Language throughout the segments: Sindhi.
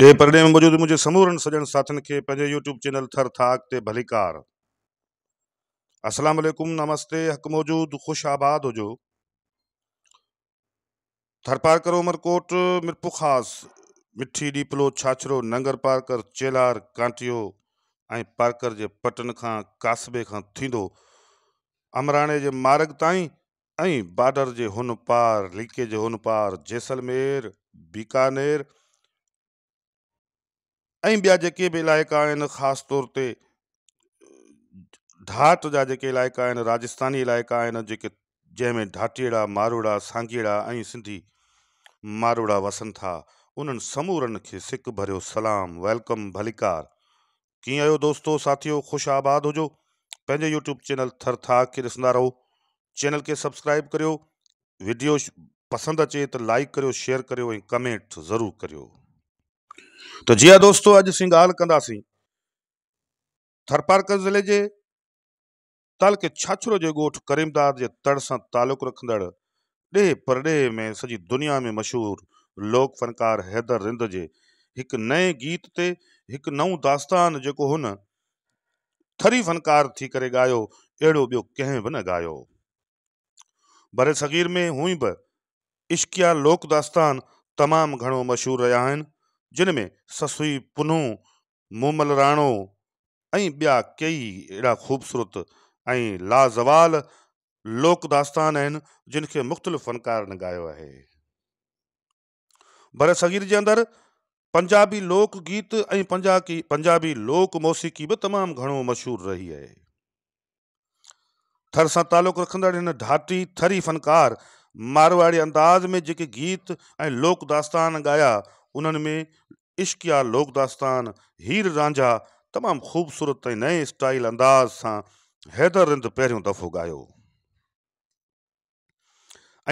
ڏيهه پرڏيهه ۾ موجود منهنجي سمورن سڄڻ ساٿين کي پنهنجي يوٽيوب چينل ٿر ٿاڪ تي ڀليڪار. السلام عليڪم نمستي حق موجود خوش آباد هجو ٿرپارڪر عمرڪوٽ ميرپورخاص مٺي ڏيپلو ڇاڇرو ننگر پارڪر چيلهار ڪانٽيو ۽ پارڪر جي پٽن کان ڪاسبي کان ٿيندو امراڻي جي مارگ تائين ۽ بارڊر جي هن پار، ليڪي جي هن پار، جيسلمير، بيڪانير ۽ ٻيا جيڪي به علائقا آهن خاص طور تي ڍاٽ جا جيڪي علائقا آهن راجستاني علائقا آهن جيڪي جنهن ۾ ڍاٽيئڙا ماروئڙا سانگيئڙا ۽ سنڌي ماروئڙا وسن ٿا انهن سمورن کي سڪ ڀريو سلام ويلڪم ڀليڪار ڪيئن آهيو دوستو ساٿيو خوش آباد هجو پنهنجي يوٽيوب چينل ٿر ٿاڪ کي ڏسندا رهو چينل کي سبسڪرائب ڪريو ويڊيو پسند اچي ته لائڪ ڪريو شيئر ڪريو ۽ ڪمينٽ ضرور ڪريو ته جي ها دوستو اڄ اسين ڳالهه ڪنداسين ٿرپارڪر ضلعي جي تعلقي ڇاڇرو جي ڳوٺ ڪريمداد جي تڙ سان تعلق رکندڙ ڏيهه پرڏيهه ۾ سڄي دنيا ۾ مشهور لوڪ فنڪار حيدر رند جي هڪ نئين گيت تي هڪ نئون داستان جيڪو هن ٿري فنڪار ٿي ڪري ڳايو اهڙو ٻيو ڪنهن به نه ڳايو برصغير ۾ هونئن به عشقيا لوڪ داستان تمام گهڻو مشهور رهيا آهن جن ۾ سسئي پنهون مومل راڻو ۽ ٻيا ڪيئي اهڙا خوبصورت ۽ لازوال لوڪ داستان آهن جن کي مختلف فنڪارن ڳايو آهي. برصغير جي اندر پنجابي لوڪ گيت ۽ پنجابي لوڪ موسيقي به تمام گهڻو مشهور رهي آهي. ٿر سان تعلق رکندڙ هن ڍاٽي ٿري فنڪار مارواڙي انداز ۾ جيڪي گيت ۽ لوڪ داستان ڳايا انهن ۾ عشقيا لوڪ داستان هير رانجها تمام خوبصورت ۽ نئين اسٽائيل انداز سان حيدر رند پهريون دفعو ڳايو.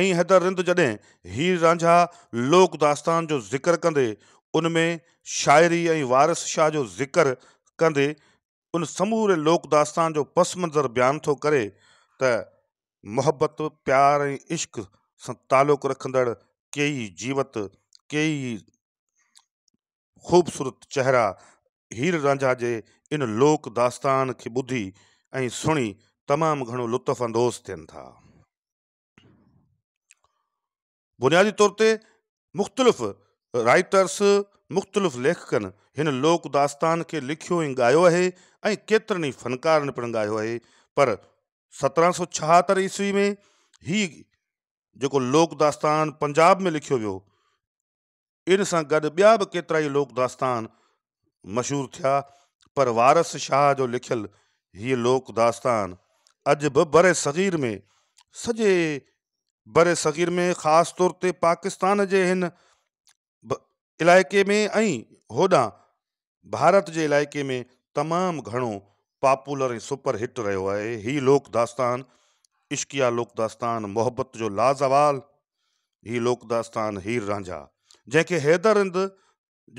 ۽ حيدر رند جڏهن هير رانجها لوڪ داستان جو ذڪر ڪندي ان ۾ شاعري ۽ وارث شاهه جو ذڪر ڪندي ان سموري لوڪ داستان جو پس منظر بيان ٿو ڪري ته محبت، پيار ۽ عشق سان تعلق رکندڙ ڪيئي جيوت، ڪيئي خوبصورت چهرا هير رانجها جي ان لوڪ داستان کي ٻڌي ۽ سڻي تمام گهڻو لطف اندوز ٿين ٿا. بنيادي طور تي مختلف رائيٽرس، مختلف ليکڪن هن لوڪ داستان کي لکيو ۽ ڳايو آهي ۽ ڪيترن ئي فنڪارن پڻ ڳايو آهي پر سترهن سؤ ڇهاتر عيسوي ۾ هي جيڪو لوڪ داستان پنجاب ۾ لکيو ويو ان سان گڏ ٻيا به ڪيترائي لوڪ داستان مشهور ٿيا، پر وارث شاهه جو لکيل هيء لوڪ داستان اڄ به برصغير ۾ سڄي برصغير ۾ خاص طور تي پاڪستان جي هن علائقي ۾ ۽ هوڏانهن ڀارت جي علائقي ۾ تمام گهڻو پاپولر ۽ سپر هٽ رهيو آهي. هي لوڪ داستان عشقيه لوڪ داستان محبت جو لازوال هي لوڪ داستان هير رانجها جنهن کي حيدر هند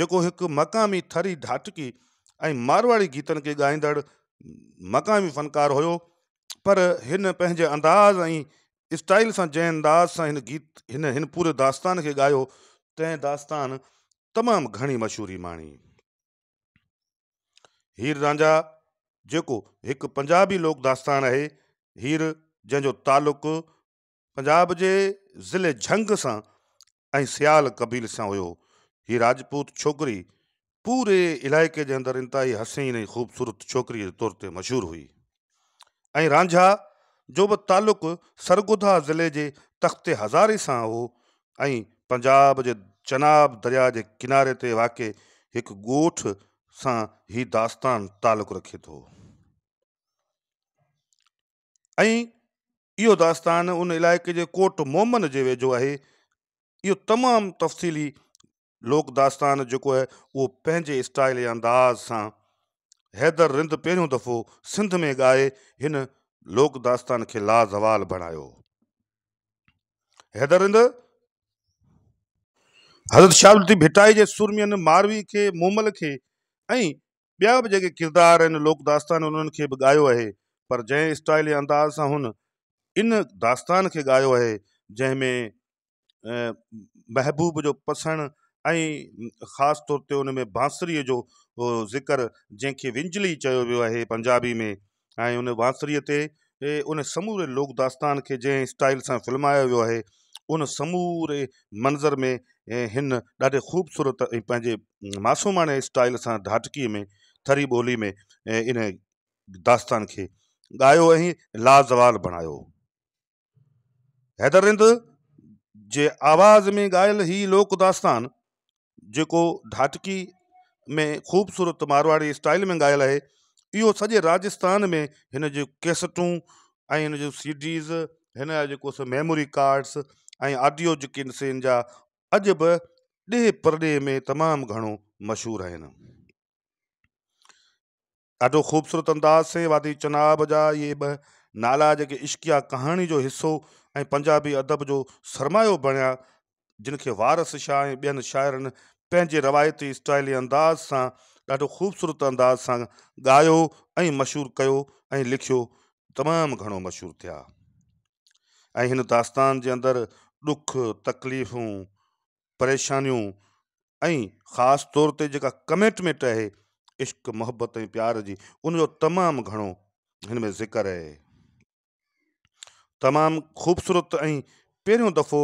جيڪو هڪ مقامي ٿري ڍاٽڪي ۽ مارواڙي گيتن کي ڳائيندڙ مقامي فنڪار هيو پر هن پنهنجي انداز ۽ اسٽائيل سان جنهن انداز سان هن گيت هن هن پوري داستان کي ڳايو تنهن داستان تمام گهڻي مشهوري ماڻي. هير رانجها جيڪو هڪ پنجابي لوڪ داستان آهي هير جنهن جو تعلق پنجاب جي ضلعي جهنگ سان ۽ سيال قبيلي سان هيو. هيء راجپوت ڇوڪري پوري علائقي جي اندر انتهائي حسين ۽ خوبصورت ڇوڪريء جي طور تي مشهور هئي ۽ رانجها جو به تعلق سرگودها ضلعي جي تخت هزاري سان هو ۽ پنجاب جي چناب درياء جي ڪناري تي واقع هڪ ڳوٺ سان هي داستان تعلق رکي ٿو. ۽ اهو داستان ان علائقي جي ڪوٽ مومن جي ويجهو آهي. اهو تمام تفصيلي لوڪ داستان جيڪو آهي اهو پنهنجي اسٽائيل ۽ انداز سان حيدر رند پهريون دفعو سنڌ ۾ ڳائي هن لوڪ داستان کي لازوال بڻايو. حيدر رند حضرت شاهه لطيف ڀٽائي جي سورمين ماروي کي، مومل کي ۽ ٻيا به جيڪي ڪردار آهن لوڪ داستان انهن کي به ڳايو آهي پر جنهن اسٽائيل يا انداز سان هن ان داستان کي ڳايو آهي جنهن ۾ محبوب جو پسڻ ۽ خاص طور تي ان ۾ بانسري جو ذڪر جنهن کي ونجلي چيو ويو آهي پنجابي ۾ ۽ ان بانسريء تي ان سموري لوڪ داستان کي جنهن اسٽائيل سان فلمايو ويو آهي، ان سموري منظر ۾ هن ڏاڍي خوبصورت ۽ پنهنجي معصوماڻي اسٽائيل سان ڍاٽڪيء ۾ ٿري ٻولي ۾ ان داستان کي ڳايو ۽ لازوال بڻايو. حيدر رند جي آواز ۾ ڳايل هي لوڪ داستان جيڪو ڍاٽڪي ۾ خوبصورت مارواڙي اسٽائيل ۾ ڳايل آهي اهو سڄي راجستان ۾ هن جون ڪيسٽون ۽ هن جون سي ڊيز هن جا جيڪو سو ميموري ڪارڊس ۽ آڊيو جيڪي ان سين جا اڄ به ڏيهه پرڏيهه ۾ تمام گهڻو مشهور آهن. ڏاڍو خوبصورت انداز سين وادي چناب جا اهي ٻه نالا جيڪي عشقيه ڪهاڻي جو حصو ۽ پنجابي ادب جو سرمايو بڻيا جن کي وارث شاهه ۽ ٻين شاعرن پنهنجي روايتي اسٽائلي انداز سان ڏاڍو خوبصورت انداز سان ڳايو ۽ مشهور ڪيو ۽ لکيو تمام گهڻو مشهور ٿيا ۽ هن داستان جي اندر ڏک تڪليفون پريشانيون ۽ خاص طور تي جيڪا ڪميٽميٽ آهي عشق محبت ۽ پيار جي ان جو تمام گهڻو هن ۾ ذڪر اهي تمام خوبصورت ۽ پهريون دفعو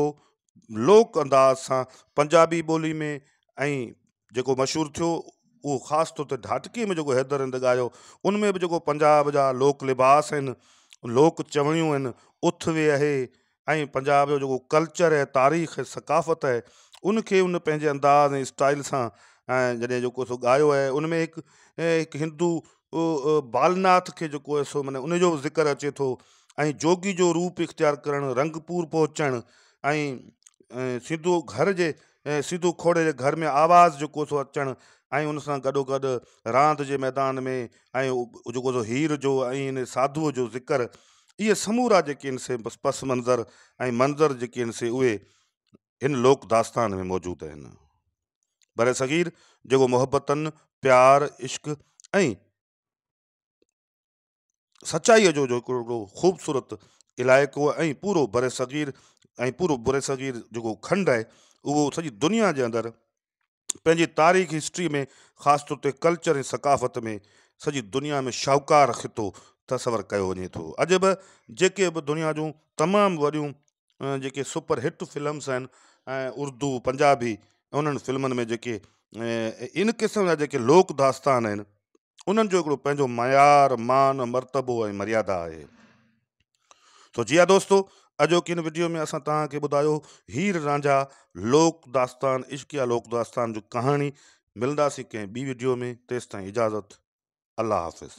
لوڪ انداز سان پنجابي ٻولي ۾ ۽ جيڪو مشهور ٿيو اهو خاص طور تي ڍاٽڪي ۾ جيڪو حيدر هند ڳايو ان ۾ به جيڪو پنجاب جا لوڪ لباس آهن لوڪ چوڻيون آهن اٿ وي اهي ۽ پنجاب جو جيڪو ڪلچر ۽ تاريخ ۽ ثقافت آهي ان کي ان پنهنجي انداز ۽ اسٽائيل سان ۽ جڏهن جيڪو سو ڳايو آهي ان ۾ هڪ هڪ هندو بالناٿ کي جيڪو آهي سو معنيٰ ان جو به ذڪر اچي ٿو ۽ جوڳي جو روپ اختيار ڪرڻ رنگپور پهچڻ ۽ سنڌو گهر جي ۽ سيڌو کوڙي جي گهر ۾ آواز جيڪو سو اچڻ ۽ ان سان گڏوگڏ راند جي ميدان ۾ ۽ جيڪو سو هير جو ۽ ان ساڌوء جو ذڪر اهي سمورا جيڪي آهن سي پس منظر ۽ منظر جيڪي آهن سي اهي هن لوڪ داستان ۾ موجود آهن. برصغير جيڪو محبتن، پيار، عشق ۽. سچائيء جو هڪڙو خوبصورت علائقو ۽ پورو برصغير ۽ پورو برصغير جيڪو کنڊ آهي اهو سڄي دنيا جي اندر پنهنجي تاريخ هسٽري ۾ خاص طور تي ڪلچر ۽ ثقافت ۾ سڄي دنيا ۾ شاهوڪار خطو تصور ڪيو وڃي ٿو اڄ به جيڪي به دنيا جون تمام وڏيون جيڪي سپر هٽ فلمس آهن ۽ اردو پنجابي انهن فلمن ۾ جيڪي ان قسم جا جيڪي لوڪ داستان آهن انهن جو هڪڙو پنهنجو معيار، مان، مرتبو ۽ مريادا آهي. سو جي ها دوستو اڄوڪي هن وڊيو ۾ اسان توهان کي ٻڌايو هير رانجها لوڪ داستان عشقيه لوڪ داستان جو ڪهاڻي ملنداسين ڪنهن ٻي وڊيو ۾ تيستائين اجازت الله حافظ.